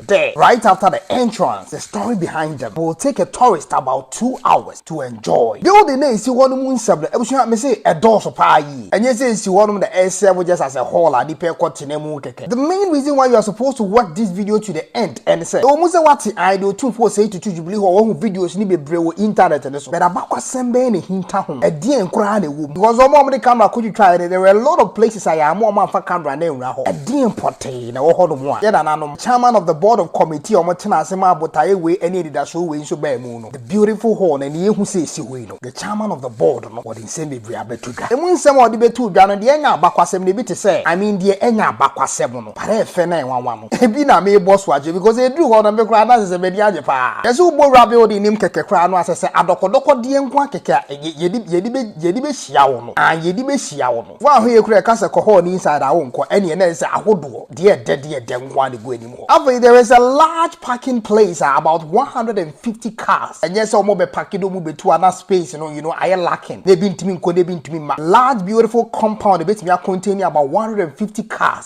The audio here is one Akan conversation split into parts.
There, right after the entrance, the story behind them will take a tourist about two hours to enjoy. Building na esi hɔ no mu nsɛm no, abusua, mese ɛdɔɔso paa yie. Ɛnyɛ sɛ esi hɔ nom na ɛserve just as a hall a nnipa ɛkɔ tena mu kɛkɛ. The main reason why you are supposed to watch this video to the end ɛne sɛ, ɛwɔ mu sɛ woate ae deɛ Otumfoɔ Osei Tutu Jubilee Hall woahu videos no bebree wɔ internet no so, but abakɔsɛm bɛn na ɛhinta ho? Ɛdeɛn koraa na ɛwɔ mu? Because wɔn a wɔde camera kɔtwitwaeɛ no, there were a lot of places a yɛamma wɔn amfa camera no anwura hɔ. Ɛdeɛn pɔtee? Yɛn a ɛwɔ hɔnom a, yɛn nananom, Chairman of the Board of Committee a wɔtenaa ase maa botaeɛ wei ne anidasoɔ wei nso baa mu no, the beautiful hall na nea ɛhu sɛ ɛsi hɔ yi no, the Chairman of the Board no, ɔde nsɛm bebree abɛto dwa. Ɛmu nsɛm a ɔde bɛtoo dwa no, deɛ ɛnyɛ abakwasɛm no, ebi te sɛ, I mean deɛ ɛnyɛ abakwasɛm no, but ɛyɛ fɛ na ɛnwanwa no, ebi na merebɔ so akyerɛ, because ɛduru hɔ no, me koraa na sɛsɛ m'ani agye pa ara. Yɛse wobɔ Wura Building no mu kɛkɛ koraa no a, sɛsɛ adɔkɔdɔkɔdeɛ nko ara kɛkɛ a yɛde, yɛde, yɛde bɛhyia wo no, aah, yɛde bɛhyia wo no. Wo ahoyɛ kura ɛka sɛ kɔ hall no inside a wonkɔ ɛneɛ na ɛsɛ ahodoɔ deɛ ɛdɛ deɛ ɛdɛ nko ara na ɛgu anim hɔ. Afei there is a large parking place a about one hundred and fifty cars ɛnyɛ sɛ wɔn bɛ parke de wɔn bɛ tu a na space no you know ayɛ lacking na ebi ntumi nkɔ na ebi ntumi mma. Large beautiful compound ɛbɛtumi a contain about one hundred and fifty cars.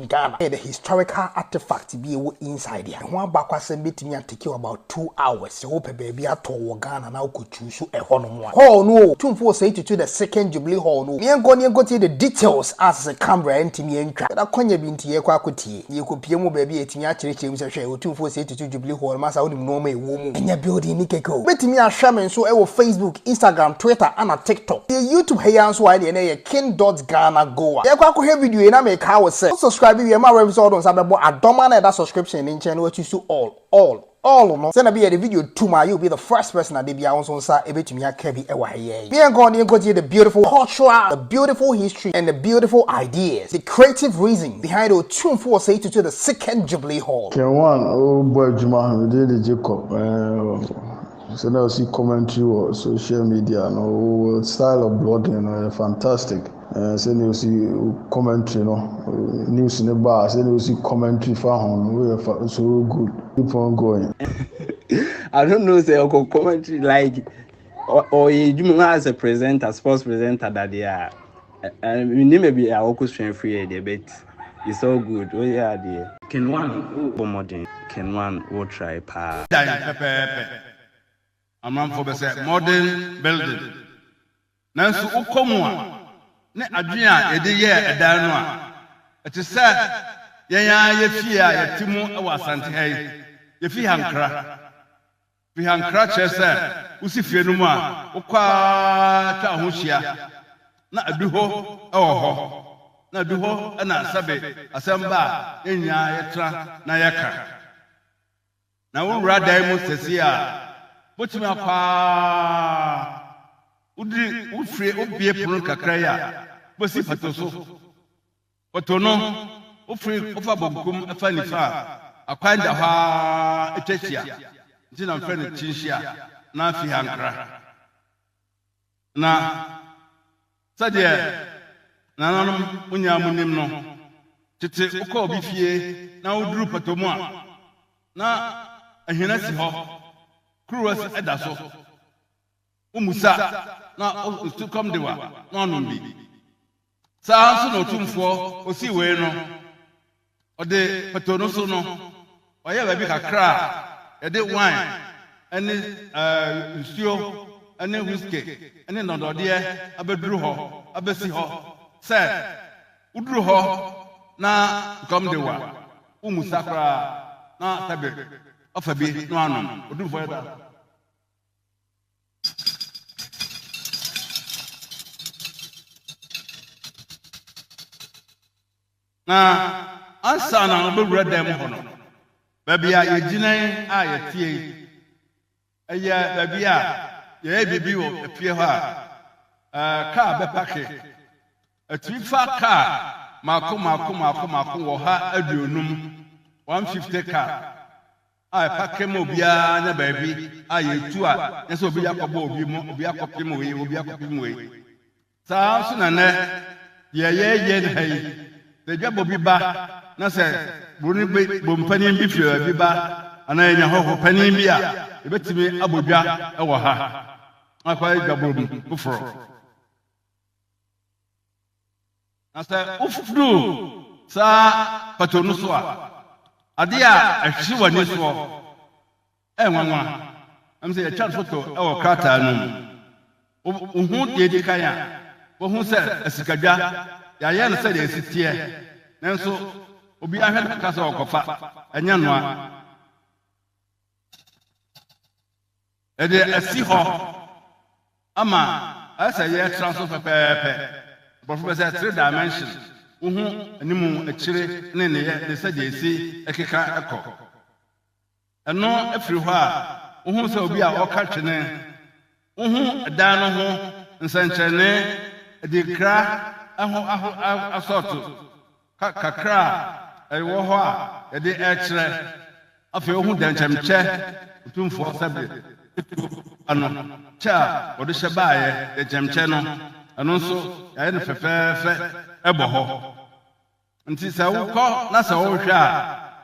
Ghana yɛ the historical artefact bi a ɛwɔ inside a ɛho abakɔasɛm bɛtumi a take you about two hours sɛ wopɛ baabi atɔ wɔ Ghana na wokɔ choose ɛhɔ nom a. Hall no o, Tumfoɔ Osei Tutu the second Jubilee Hall no o, meɛnkɔ ne yɛnkɔ tie the details a sese camera ntumi antwa, but akwanya bi nti yɛkɔ akɔ tie na yɛkɔ pie mu wɔ baabi a yɛtumi akyerɛkyerɛ mu sɛ hwɛ Otumfoɔ Osei Tutu, Ɔsi Jubilee hall no masa wonim nnoɔma a ɛwɔ mu. Ɛnyɛ building no kɛkɛ o. Wobɛtumi ahwɛ me nso wɔ Facebook, Instagram, Twitter ɛna TikTok. Yɛ YouTube ha yi ara nso a ɛneɛ na ɛyɛ King Dot Ghana Goa. Yɛkɔ akɔhwɛ video yi na mekaa wo sɛ wo subscribe wie a ma w'anim sɛ wode wo nsa bɛbɔ adɔma no a ɛda subscription no nkyɛn na woatwi so all, all, all no sɛdeɛ ɛbɛyɛ yɛde video tum a you'll be the first person a da biara wo nso wo nsa bɛtumi aka bi wɔ ha yi. yɛn. Yɛn nkɔ ne yɛnkɔtie the beautiful cultural, the beautiful history and the beautiful ideas, the creative reason behind Otumfo Osei Tutu the second Jubilee Hall. Ken Wan ɔrebɔ adwuma ne din de Jacob ɛɛm sɛnea ɔsi commentary wɔ social media no wo style of blogging no ɛyɛ fantastic ɛɛ sɛnea ɔsi commentary no news no ba a sɛnea ɔsi commentary fa ho no woyɛ fa so good keep on going. I don't know sɛ ɔkɔ commentary like. ɔyɛ adwuma as a presenter sports presenter dadeɛ a menim baabi a wɔkɔsua firi yɛ deɛ but it's all good woyɛ adeɛ kenwan wobɔ mmɔden kenwan wo try paa dan pɛpɛɛpɛ amanfoɔ bɛ sɛ modern building nanso wokɔ mu a ne adwene a yɛde yɛɛ ɛdan no a ɛte sɛ yɛn ara yɛ fie a yɛte mu wɔ asante ha yi yɛfi hankra Fi ha nkra kyerɛ sɛ wusi fie no mu a, wokɔ ara twa wo ho hyia, na adu hɔ wɔ hɔ, na adu hɔ na sɛbe asɛm ba a, yɛn nyinaa yɛtra na yɛka. Na wowura dan mu sɛsie a, wubetumi akɔ ara, wudi, wofiri, wobue pono kakra yi a, wubesi pato so. Wɔtow no, wofiri, wofa bonkum fa nifa a, akwan da hɔ ara etwa hyia, nti na wɔfrɛ no kyinhyia anaa fihankra. Na sɛdeɛ nananom mo nyinaa monim no, tete wokɔ obi fie na woduru pɔtɔ mu a, na ahina si hɔ, kuruwa si ɛda so, womusa na wo- sukɔm de wa na wanom bi. Saa ara nso na Otumfoɔ osii wei no, ɔde pɛtoo no so no, ɔyɛɛ baabi kakra a yɛde wine ne nsuo ne whiskey ne nnɔdɔdeɛ abɛduru hɔ abɛsi hɔ sɛ woduru hɔ na sukɔm de wo a, wommisa koraa na sɛbe woafa bi na woanom. Otumfoɔ yɛ saa. Na ansa na wɔbɛwura dan mu hɔ no, baabi a yɛgyina yi a yɛteɛ yi, ɛyɛ baabi a yɛyɛ biribi wɔ efie hɔ a kaa bɛpake. Ɛtumi fa kaa mako mako mako mako wɔ ha aduonum, 150 kaa. a ɛfa kɛ ma obiara nya baabi a yɛtu a nyɛ sɛ obi de akɔbɔ obi mu, obi akɔpem wei, obi akɔpem wei. Saa ara nso na nnɛ deɛ yɛyɛ no ha yi, sɛ dwabɔ bi ba na sɛ buroni bi bompanin bi firi baabi ba anaa yɛnya hɔho panin bi a, yɛbɛtumi abɔ dwa wɔ ha akɔyɛ dwabɔ mu foforɔ. Na sɛ woforo saa pato no so a, ade a ɛhwe w'ani soɔ yɛ nwanwa. Ɛm sɛ yɛtwa no foto wɔ krataa no mu. Wohu deɛ edi kan a, wohu sɛ asikadwa, yɛayɛ no sɛdeɛ ɛsi teɛ. Nanso obiara hwɛ no ka sɛ ɔkɔfa, ɛnyɛ noa. Yɛde asi hɔ ama ayɛ sɛ yɛtra so pɛpɛɛpɛ. Aborɔfo bɛ sɛ three dimension, wohu anim, akyire ne nneyɛ ne sɛdeɛ ɛsi keka kɔ. Ɛno firi hɔ a, wohu sɛ obi a ɔka twene, wohu dan no ho nsɛnkyerɛnne, adinkra ho asɔɔto. Ka kakra a ɛwɔ hɔ a yɛde rekyerɛ. Afei wohu dɛnkyɛmkyɛ Otumfoɔ sɛbe tuo ba no, kyɛ a wɔde hyɛ baeɛ, dɛnkyɛmkyɛ no, ɛno nso yɛayɛ no fɛfɛɛfɛ bɔ hɔ. Nti sɛ wokɔ na sɛ wohwɛ a,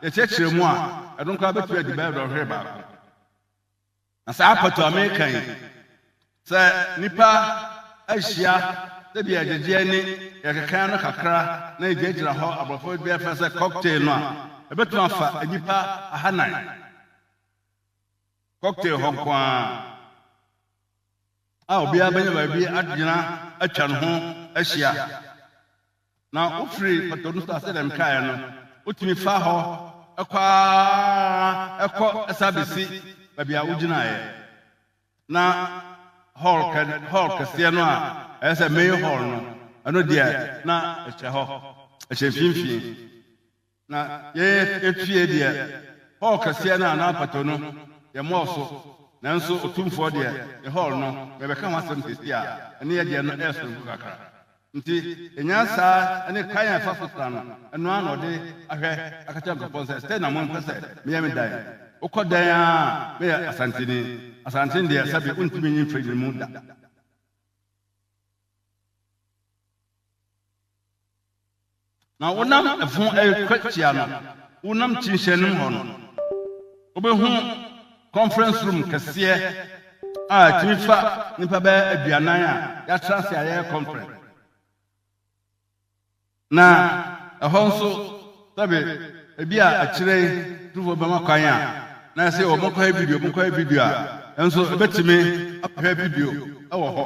yɛkyerɛkyerɛ mu a, ɛno koraa bɛtumi adi bɛyɛ dɔnhwere baako. Na saa apato a mereka yi, sɛ nnipa ahyia sɛdeɛ agyegyeɛ ne deɛ ɛkeka no kakra na ɛgyinagyina hɔ, aborɔfo bia frɛ sɛ cocktail no a, ɛbɛtumi afa nnipa ahanan. Cocktail hɔ nko ara a obiara bɛnya baabi agyina atwa ne ho ahyia. Na ofiri pɔtɔ no so a, sɛdeɛ mekaeɛ no, wotumi fa hɔ kɔ ara kɔ san bɛsi baabi a wogyinaeɛ. Na hall kɛ hall kɛseɛ no a ɛyɛ sɛ main hall no, ɛno deɛ na ɛhyɛ hɔ, ɛhyɛ mfimfini. Na yɛtue deɛ, hɔɔl kɛseɛ no anaa mpɔtɔ no, yɛmmɔɔ so, nanso Otumfoɔ deɛ, ne hɔɔl no, merebɛka ho asɛm seesei a, ɛne yɛn deɛ no yɛ soronko kakra. Enti yɛnyaa saa ne kwan a yɛfa so tra no, ɛno ara na ɔde ahwɛ aka kyerɛ nkurɔfoɔ no sɛ, Sɛn na mompɛ sɛ meyɛ me dan? Wokɔ dɛn ara a, meyɛ Asanteni. Asanteni deɛ, sɛbe wontumi nyi mfiri no mu da. Na wonam ɛfo ɛrekwatia no, wonam kyinhyɛnem hɔ no, wobɛhu conference room kɛseɛ a ɛtumi fa nipa bɛyɛ aduanan a yɛatra ase a yɛyɛ conference. Na ɛhɔ nso sɛbe ebi a akyire yi tufoɔ bɛma kwan a na ɛsɛ wɔn nkɔyɛ video wɔn nkɔyɛ video a ɛnso ɛbɛtumi ahwɛ video ɛwɔ hɔ.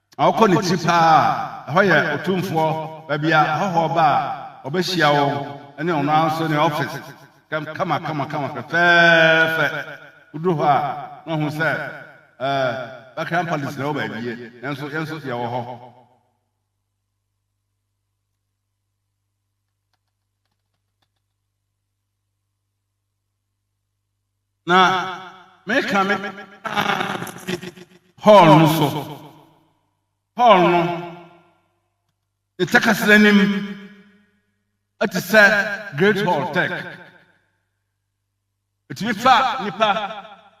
Awokɔ ne ti paa a, ɛhɔ yɛ otumfoɔ, baabi a ahɔhoɔ ɔba a, ɔbɛhyia wɔn, ɛne ɔno ara nso ne ɔfese, kama kama kama fɛfɛɛfɛ. Woduru hɔ a, na wahu sɛ ɛɛ Buckingham Palace na ɛwɔ baabi yɛ, nanso yɛn nso yɛwɔ hɔ. Na meka me hall no so. Hall no, ne takasra anim te sɛ Great Hall Tech. Ɛtumi fa nnipa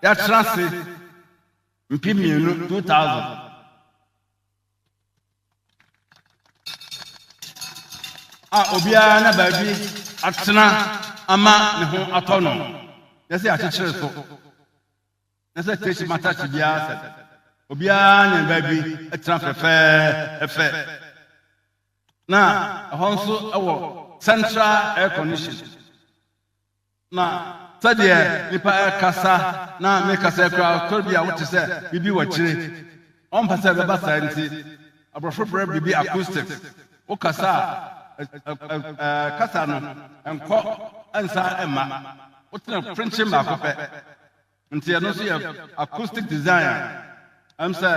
yɛatra ase mpem mmienu, 2000. a obiara na baabi atena ama ne ho atɔ no na sɛ akyekyere so na sɛ tesi matase biara sɛ obiara ne baabi atena fɛfɛɛfɛ na ɛhɔ nso ɛwɔ central air condition Na sɛdeɛ nnipa rekasa na ne kasa yi koraa tɔre bi a wote sɛ biribi wɔ akyire. Wɔmpɛ sɛ ɛbɛba saa nti, aborɔfo frɛ biribi acoustics. Wokasa a, kasa no nkɔ nsan mma. Wotena frenkyen baako pɛ. Nti ɛno nso yɛ acoustic design a ɛm sɛ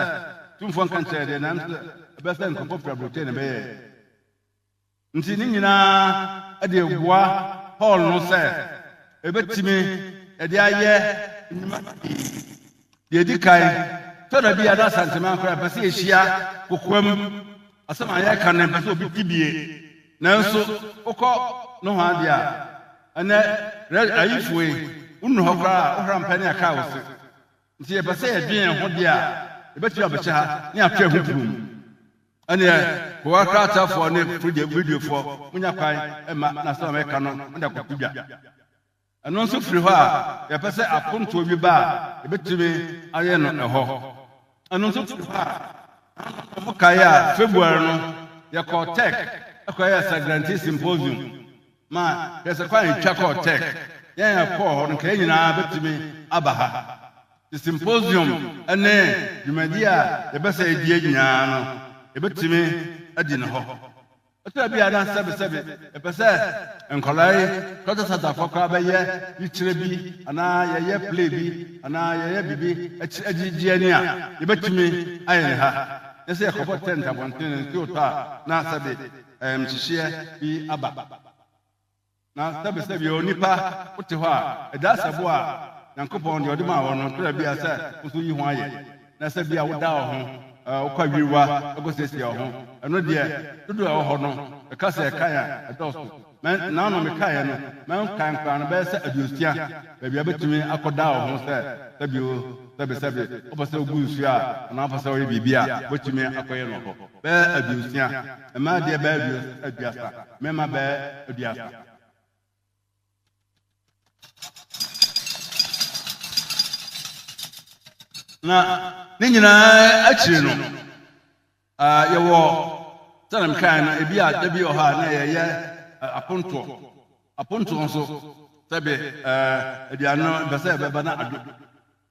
tumfoɔ nka nkyerɛ deɛ na ɛm sɛ ɛbɛyɛ sɛ nkurɔfoɔ firi aburokyire na ɛbɛyɛɛ. Enti ne nyinaa de abua Paul no sɛ ebetumi de ayɛ nnwuma pii. Nea edi kan, tɔ da bi a na Asantehene koraa mpɛ sɛ yehyia kokoam. Asɛm a yɛreka no, ɛmpɛ sɛ obi te bi. Nanso wokɔ nohoa de a, ɛnɛ, Ayifue, wonnu hɔ koraa a, wohara mpɛ ne akra wo se. Nti yɛpɛ sɛ yɛdwen yɛn ho deɛ a yɛbɛtumi abɛhyɛ ha ne atwerɛ ho turom. Ɛneɛ kowa kratafoɔ ne fridge videofoɔ monya kwan ma na asɛm a mɛka no mode akɔto dwa. Ɛno nso firi hɔ a yɛpɛ sɛ apontoɔ bi ba a yɛbɛtumi ayɛ no ɛhɔ. Ɛno nso firi hɔ a na mokae a February no yɛkɔɔ Tech ɛkɔyɛ Sagrantee Symposium. Ma hwɛ sɛ kwan a etwa kɔɔ Turk ne yɛn a yɛkɔɔ hɔ no, anka yɛn nyinaa betumi aba ha. Te symposium ne dwumadi a yɛpɛ sɛ yedi nyinaa no, yebetumi adi no hɔ. Ɛtɔ bi a na sɛbesɛbe yɛpɛ sɛ nkwadaa yi Culture Center fo koraa bɛyɛ yikyerɛ bi anaa yɛyɛ play bi anaa yɛyɛ biribi akyiri agyigye ani a, yebetumi ayɛ no ha. Na sɛ yɛkɔbɔ tent abɔnten no, nsuo tɔ a, na sɛbe. nhyehyeɛ bi aba. Na sɛbesɛbea onipa wote hɔ a, ɛda sɛ bo a Nyankopɔn deɛ ɔde maa wɔ no kora bia sɛ wo nso yi ho ayɛ. Na sɛ bia woda wɔ ho, wokɔ awiriwa kɔsiesie wɔ ho, ɛno deɛ dodoɔ ɛwɔ hɔ no, meka sɛ ɛkan a ɛdɔɔso. Mɛ, naanom mekaeɛ no, mɛnkan koraa no bɛyɛ sɛ aduosia. baabi a obetumi akɔda wɔ ho sɛ sɛbi o, sɛbesɛbe, ɔpɛ sɛ ogu nsu a, anaa ɔpɛ sɛ ɔyɛ biribi a, obetumi akɔyɛ no hɔ. Bɛyɛ aduosia, mmaa deɛ bɛyɛ aduasa, mmarima bɛyɛ aduasa. Na ne nyinaa akyiri no, Ah, yɛwɔ, sɛnea mekae no, ebi a da bi wɔ hɔ a na yɛyɛ eh, apontoɔ. Apontoɔ nso, sɛbe eh, aduane no mpɛ sɛ ɛbɛba na adwo.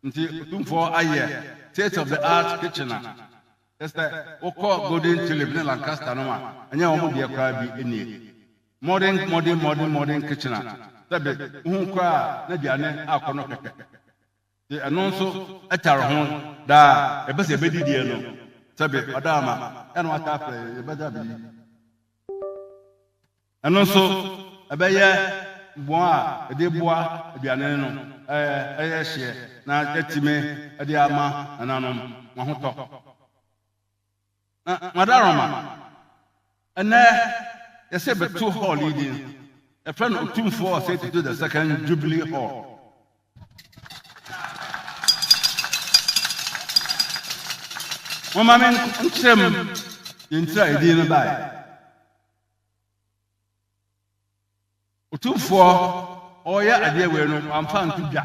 Nti, Otumfoɔ ayɛ Taste of the Art Kitchen a, kyerɛ sɛ, wokɔ Golden Tulip ne Lancaster nom a, ɛnyɛ wɔn deɛ koraa bi nie. Modern, modern, modern, modern kitchen a, sɛbe, wohu koraa a, na aduane akɔ no kɛkɛ. Sɛ ɛno nso ɛtare ho daa a, yɛpɛ sɛ yɛbɛdi deɛ no sɛbe ɔda ama yɛ na wata afrɛ yɛn, yɛbɛda abɛdi. Ɛno nso ɛbɛyɛ bɔn a yɛde boa aduane no ɛyɛ hyeɛ na yɛatumi de ama nananom wɔn ahotɔ. Na Madaroma, ɛnnɛ yɛsɛ yɛbɛto hall yi din, yɛfrɛ no Otumfoɔ Osei Tutu the Second Jubilee Hall. Momma me nkyerɛ mu deɛ nti a edin no baeɛ. Otumfoɔ ɔreyɛ adeɛ wei no wamfa nto dwa.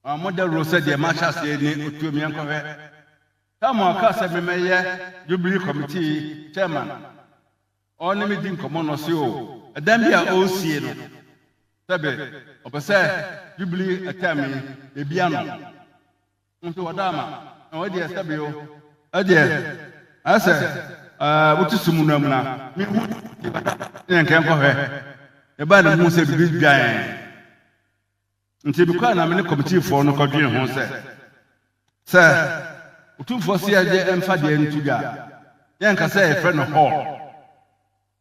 Ɔma mo dawuro sɛ deɛ mahyɛ aseɛ ne otuo meɛnkɔhwɛ. Samuel kaa sɛ memmɛyɛ Jubilee Committee Chairman. Ɔne me di nkɔmmɔ na ɔse o, ɛdan bi a ɔresie no, sɛbe ɔpɛ sɛ Jubilee term yi yɛbia no. Nso wɔda ama. Na wei deɛ sɛbe o, ɛdeɛ ayɛ sɛ ɛɛ wote sum no amuna. Mehu ne yɛnkɛnkɔhwɛ. Yɛbaa na mehu sɛ biribi dwan. Enti me kɔe na me ne kɔmitiifo no kɔdwen ho sɛ, sɛ Otumfoɔ se yɛde mfa deɛ no to dwa a, yɛnka sɛ yɛfrɛ no hall.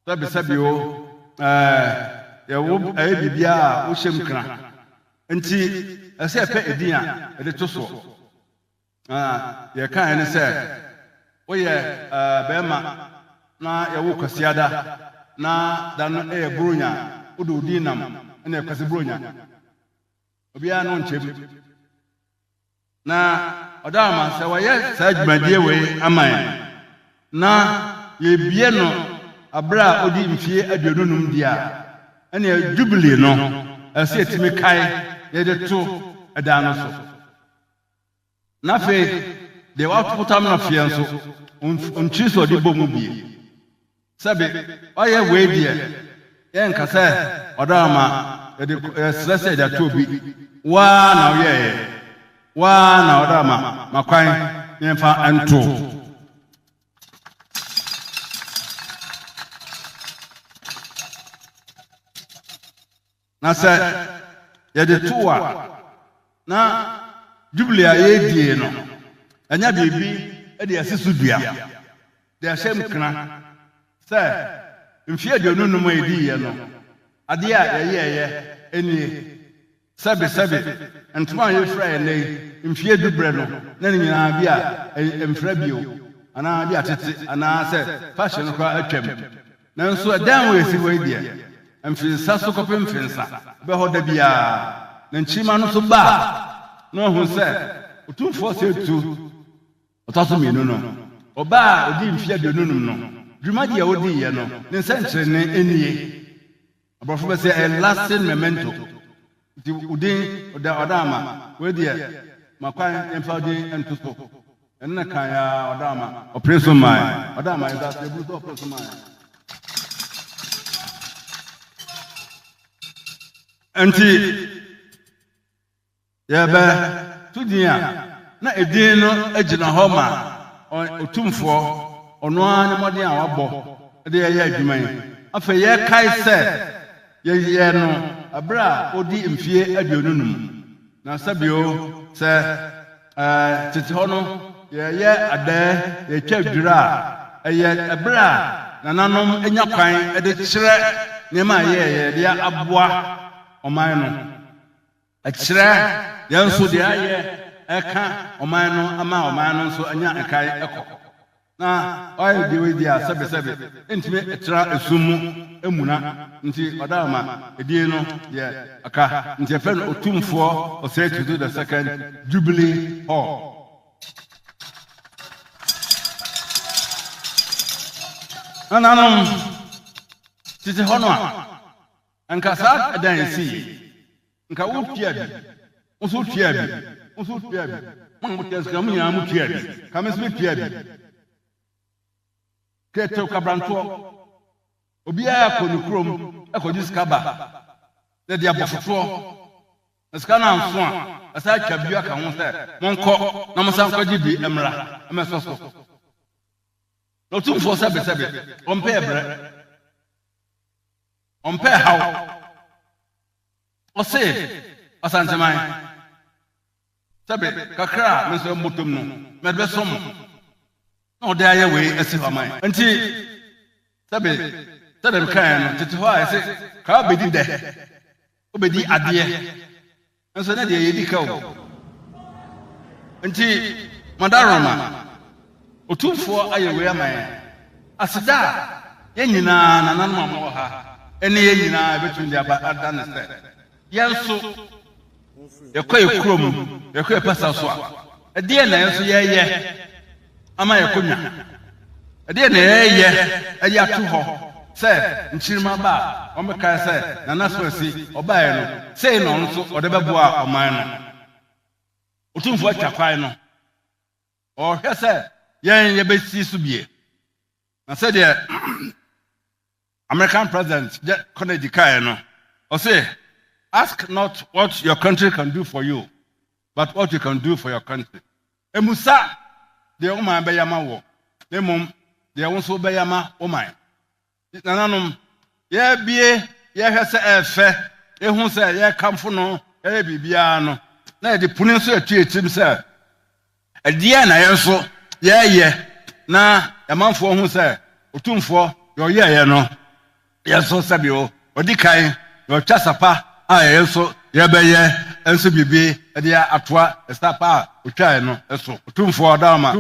Sɛbesɛbe o, ɛɛ, yɛwo ɛyɛ biribiara a wohyɛ mu kena. Enti ɛsɛ sɛ yɛpɛ edin a yɛde to soɔ. Na deɛ ɛkaeɛ ne sɛ, Woyɛ barima na yɛwo wo Kwasiada, na da no yɛ Buronya, wode wo din nam ne Kwasi Buronya. Obiara ne wo nkyɛm. Na ɔda ama sɛ wɔayɛ saa dwumadie wei ama yɛn na yɛbie no aberɛ a ɔdi mfie aduonu num deɛ a, ɛneɛ Jubilee no ɛsɛ sɛ yɛtumi kae na yɛde to ɛdan no so. Na afei, deɛ watopotam no afeɛ nso, ɔnkyiri sɛ ɔde bɔ mu bie. Sɛbe, ɔyɛ wei deɛ, yɛnka sɛ ɔdɔ ama yɛde yɛsrɛ sɛ yɛde ato obi. Waa na ɔyɛeɛ. Waa na ɔdɔ ama ma kwan na yɛmfa nto. Na sɛ yɛde to wo a, na Jubilee a yɛredie no, ɛnyɛ biribi de asi so dua, de ahyɛ mu kena, sɛ mfeɛ aduonu nnum a yɛdiiɛ no, adeɛ a yɛyɛeɛ nie, sɛbesɛbe, ntoma a yɛfira ɛnnɛ yi, mfeɛ du berɛ no, na ne nyinaa bi a ɛmfira bio, anaa bi a atete, anaasɛ fashion no koraa atwam. Nanso ɛdan a wɔasi hɔ yi deɛ, mfensa so kɔpem mfensa, ɛbɛ hɔ da biara, na nkyirimma no nso ba a, na wɔahu sɛ Otumfoɔ sɛ etu ɔtɔ so mmienu no. Ɔbaa a odii mfe aduonu num no, dwuma deɛ odiiɛ no, ne nsɛnkyerɛnne nie. Aborɔfo bɛ sɛ a lasting memento. Nti wo din ɔda ɔda ama. Wei deɛ ma kwan yɛmfa wo din nto so. Ɛno na kan ya ɔda ama. Ɔpere so mae. Ɔda ama yɛda ase eburu sɛ ɔpere so mae. Nti Yɛrebɛto din a, na edin no gyina hɔ ma Otumfoɔ, ɔno ara ne mmɔden a wabɔ de reyɛ adwuma yi. Afei yɛkae sɛ yɛyɛɛ no bere a ɔdii mfeɛ aduonu no mu. Na sɛ bio sɛ tete hɔ no yɛyɛ adɛɛ, yɛtwa dwira a, ɛyɛ bere a nananom nya kwan de kyerɛ nneɛma a yɛyɛɛ de aboa ɔman no. Ɛkyerɛ yɛn nso deɛ ayɛ ɛka ɔman no ama ɔman no nso anya nkae ɛkɔ. Na ɔayɛ deɛ wei deɛ a sɛbe sɛbe ɛntumi ɛtra ɛsum mu ɛmuna nti ɔda ɔma ɛdin no deɛ aka nti yɛfrɛ no Otumfoɔ Osei Tutu the second Jubilee Hall. Nananom tete hɔ no a. Anka saa ɛda a esii yi, anka wotuaa bi, wo nso wotuaa bi, wo nso wotuaa bi, mo a mote Nscra mu nyinaa motuaa bi, anka me nso metuaa bi. Ketew kabrantoɔ, obiara kɔ ne kurom kɔgye sika ba, na ɛde abɔ fotoɔ, na sika no anso a, wɔsan atwa bio aka ho sɛ, Monkɔ na monsan nkɔgye bi mmra mmɛsɔ so. Na Otumfoɔ sɛbesɛbe, ɔmpɛ ɛbrɛ. Ɔmpɛɛ haw. Ɔsee Ɔsantseman, sɛ ber kakra a me nsa mbɔtɔ mu no, medze bɛsɔ mo, na ɔdze ayɛ wei esi hɔ ama hɛn. Ntsi, sɛ ber, sɛdeɛ mekãeɛ no, tsetse hɔ a yɛse, Kaa obedi dɛ, obedi adeɛ. Nso ne deɛ yɛdi ka o. Nti Madaroma, Otumfoɔ ayɛ wei ama yɛn. Aseda a yɛn nyinaa, nananom a mowɔ ha, ne yɛn nyinaa bɛtumi de aba ada ne sɛ, yɛn nso yɛkɔ yɛn kurom, yɛkɔ yɛn pasaw so a, ɛdeɛn na yɛn nso yɛyɛ? ama yɛakɔ nya. Ɛdeɛn na yɛreyɛ de ato hɔ sɛ Nkyirima ba a wɔbɛkae sɛ Nana Swarsi ɔbaeɛ no, sei na ɔno nso ɔde bɛboa ɔman no? Otumfoɔ atwa kwan no, ɔrehwɛ sɛ yɛn yɛbɛsi so bie. Na sɛdeɛ American president Kennedy kae no, ɔse, Ask not what your country can do for you, but what you can do for your country. Mmusa deɛ wo man bɛyɛ ama wɔ, na mmom deɛ wo nso bɛyɛ ama wo man. Nananom, yɛbie, yɛhwɛ sɛ ɛfɛ, ehu sɛ yɛkamfo no, yɛyɛ biribiara no, na yɛde puni nso yɛtue tirim sɛ, Ɛdeɛn na yɛn nso yɛreyɛ na yɛn manfoɔ ahu sɛ Otumfoɔ deɛ ɔyɛeɛ no, yɛn nso sɛbio ɔdi kan na ɔtwa sa pa a yɛn nso yɛbɛyɛ nso biribi de atoa sa pa a ɔtwaeɛ no so. Otumfoɔ da wo ma.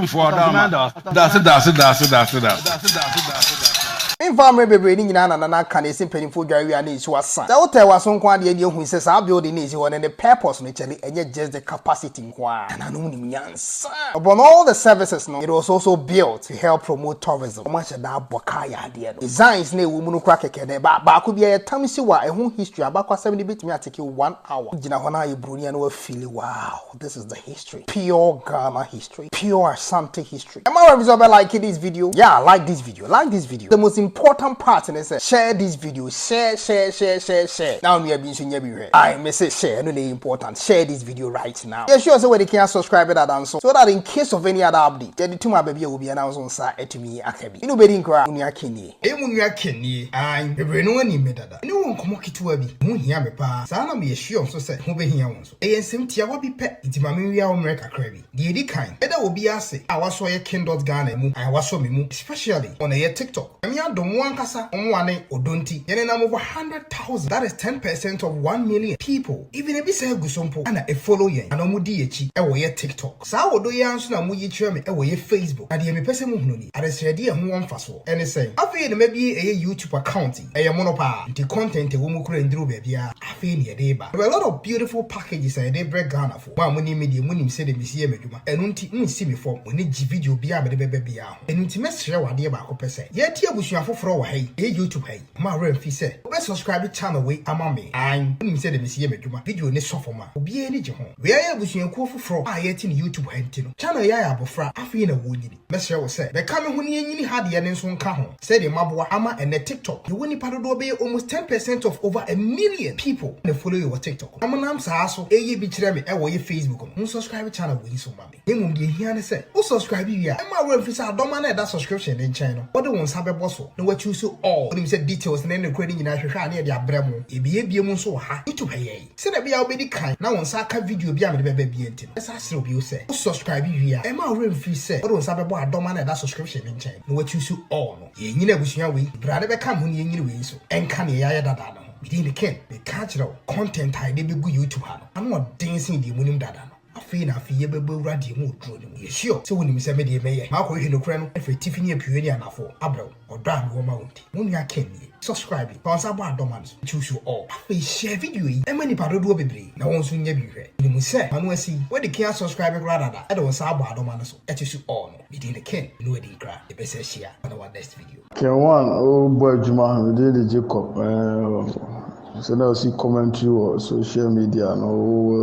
Daase daase daase daase daase. Memfaa mmerɛ bebree no nyinaa na na na aka na ɛsɛ mpanimfoɔ dware wie a na nsuo asa. Sɛ wotɛɛ w'aso nko ara deɛ ɛnneɛ hu sɛ saa building no a ɛsi hɔ no ne purpose no kyɛre ɛnyɛ just the capacity. nko ara na na ɔmo nim nyansa. Upon all the services no, it was also built to help promote tourism. Ɔmo ahyɛ da abɔ kaa yɛ adeɛ no. Designs na ɛwɔ mu no koraa kɛkɛ dɛ, baa baako bi ɛyɛ tam siw a ɛho history abakwasɛm no bɛtumi atake wo one hour. Wo gyina hɔ na ayɛ broni a na wafeeli wow this is the history, pure Ghana history, pure Ashanti history. Am I wrong sɛ ɔbɛ like this video? Yeah like this video like this video the most important part ne sɛ share this video share share share share share na onua bi nso nya bi hwɛ ae me se share ɛno na ɛyɛ important share this video right now yɛ sure sɛ wɔde kea subscribe dada nso so that in case of any other update yɛde tum aba bi a obiara na nso nsa atumi aka bi ɛnu bɛdi nkora onua kenie ɛyɛ mu nua kenie ae bebree no wɔnim me dada ɛne wɔ nkɔmmɔ ketewa bi ɛho hia me paa saa na meyɛ sure nso sɛ ɛho bɛhia wo nso ɛyɛ nsɛm tiawa bi pɛ nti ma menwia wo mmerɛ kakra bi. Deɛ ɛdi kan, meda obiara ase a wasɔ yɛ King Dot Ghana ɛmu and wasɔ me mu especially on ɛyɛ TikTok. Nyame adom mo ankasa mo mmoa ne ɔdɔ nti yɛ nenam over hundred thousand that is ten percent of one million people even ebi saa gu so mpo na ɛfollow yɛn anaa ɔmo di yɛkyi ɛwɔ yɛ TikTok. Saa ɔdɔ yi ara nso na moyi kyerɛ me ɛwɔ yɛ Facebook na deɛ mepɛ sɛ mo hunu ni adesrɛdeɛ a ɛho wɔ mfasoɔ ɛne sɛn? Afei na mabie ɛyɛ YouTube account yi ɛyɛ mono paa nti content ɛwɔ mu koraa nduru baabiara afei na yɛde reba there were a lot of beautiful packages a yɛde rebrɛ Ghana foɔ. Mo a monim me deɛ, monim sɛdeɛ mesi yɛ m'adwuma. Ɛno nti, monnsi me fam. Mo ani gye video biara a mede bɛba biara ho. Ɛno nti, mɛsrɛ wo adeɛ baako pɛ sɛ, yɛnte abusua foforɔ wɔ ha yi, ɛyɛ YouTube ha yi. Mma wo werɛ mmfi sɛ, wobɛ subscribe channel wei ama me. Aane, wonim sɛdeɛ mesi yɛ m'adwuma. Video no sɔ fam a, obiara ani gye ho. Wei ayɛ abusuakuo foforɔ a yɛte no YouTube ha nti no. Channel yi ayɛ abɔfra, afei na wɔrenyini. Mɛsrɛ wo sɛ bɛka me ho ne yɛnyini ha deɛ no nso nka ho sɛdeɛ maboa ama ɛnnɛ TikTok yɛwɔ nnipa dodoɔ bɛyɛ almost ten percent of over a million people na follow yɛ wɔ TikTok no na monam saa so ɛyɛ bi kyerɛ me ɛwɔ yɛ Facebook no mo subscribe channel wei nso ma me na mmom deɛ ɛhia ne sɛ wo subscribe wie a mma w'werɛ mfiri sɛ adɔma no a ɛda subscription no nkyɛn no wode wo nsa bɛbɔ so na woakyuuso all wonim sɛ details ne ne korɛ no nyinaa hwehwɛ a na yɛde abrɛ mo yɛbiebie mu nso wɔ ha YouTube ha yɛn. Sɛnea ɛbɛyɛ a wubedi kan na wo nsa aka video bi a mede bɛba bio nti no, mɛsan asrɛ wo bio sɛ, wo subscribe wie a, mma wo werɛ mmfiri sɛ wode wo nsa bɛbɔ adɔm a na ɛda subscription no nkyɛn no na woakyuusu all no. Yɛrenyini abusua wei, bere a na ɛbɛka me ho na yɛrenyini wei nso, ɛnka nea yɛayɛ dada no ho. Me din de Ken. Meka kyerɛ wo, content a yɛde begu YouTube ha no, ano ɔden sen deɛ munim dada no. Afei na afei yɛbɛbɔ awura deɛ mu oduro no mu. Yɛ sure sɛ wonim sɛ me deɛ mɛyɛ makɔhwehwɛ nokorɛ no afiri atifi ne apueɛ ne anafoɔ abrɛ wo ɔdɔ a mewɔ ma wo nti. Mo nua Ken nie. Subscribe fa wo nsa bɔ adɔ ma no so nti wo sure ɔɔ. Afei share video yi ɛma nipa dodoɔ bebree na wɔn nso nyɛ bi nhwɛ. Menim sɛ m'ano asi wo de Ken asubscribe koraa dada de wo nsa abɔ adɔ ma no so ɛte su ɔɔ no. Me din ne Ken ne wadi nkra yɛbɛsa ahyia on our next video. Ken one o bɔ adwuma me din de Jacob ɛɛ sɛ na ɔsi commentary wɔ social media no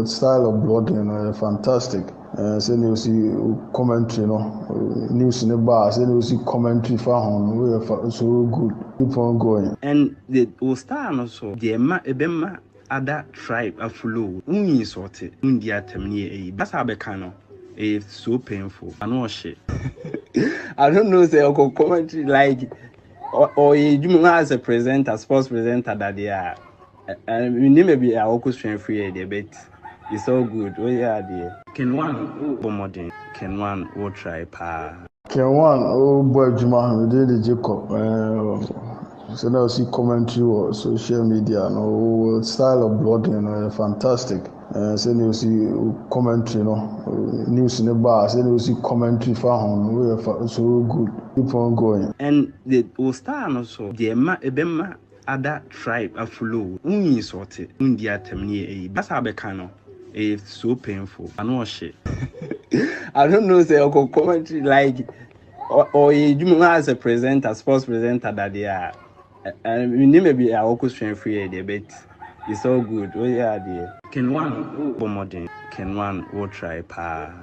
o style of blogging no yɛ fantastic ɛɛ sɛ na ɔsi commentary no news ne ba sɛ na ɔsi commentary fa ho no o yɛ fa so good keep on going. Ɛn de wo style no so deɛ ɛma ɛbɛma Ada tribe afuloo wo wo insɔte wo ndi atɛm ne yɛ eyi basa abɛka no ɛyɛ so painful ano ɔhye. I don't know sɛ ɔkɔ commentary like ɔyɛ edwuma mu as a presenter sports presenter dadeɛ a menim baabi a ɔkɔ sua firi yɛ deɛ but it's all good woyɛ adeɛ. Ken one wo bɔ mmɔden. Ken one wo try paa. Ken Wan a ɔrebɔ adwuma no din de Jacob. Ɛɛ sɛ na ɔsi commentary wɔ social media no wɔ style of blogging no yɛ fantastic. Ɛɛ sɛ na ɔsi commentary no news no ba a sɛ na ɔsi commentary fa ho no yɛ so good. Keep on going. And the wo style no so deɛ ɛma ɛbɛma ada tribe afuloo wo nyi nsɔɔte wo ndi atɛm ne yɛ ɛyi basa abɛka no ɛyɛ so painful ano ɔhye I don't know sɛ ɔkɔ commentary like ɔyɛ adwuma mu as a presenter sports presenter dadeɛ a menim baabi a ɔkɔ sua firi yɛ deɛ but it's all good woyɛ adeɛ. Ken one bɔ mmɔden. Ken one wo try paa.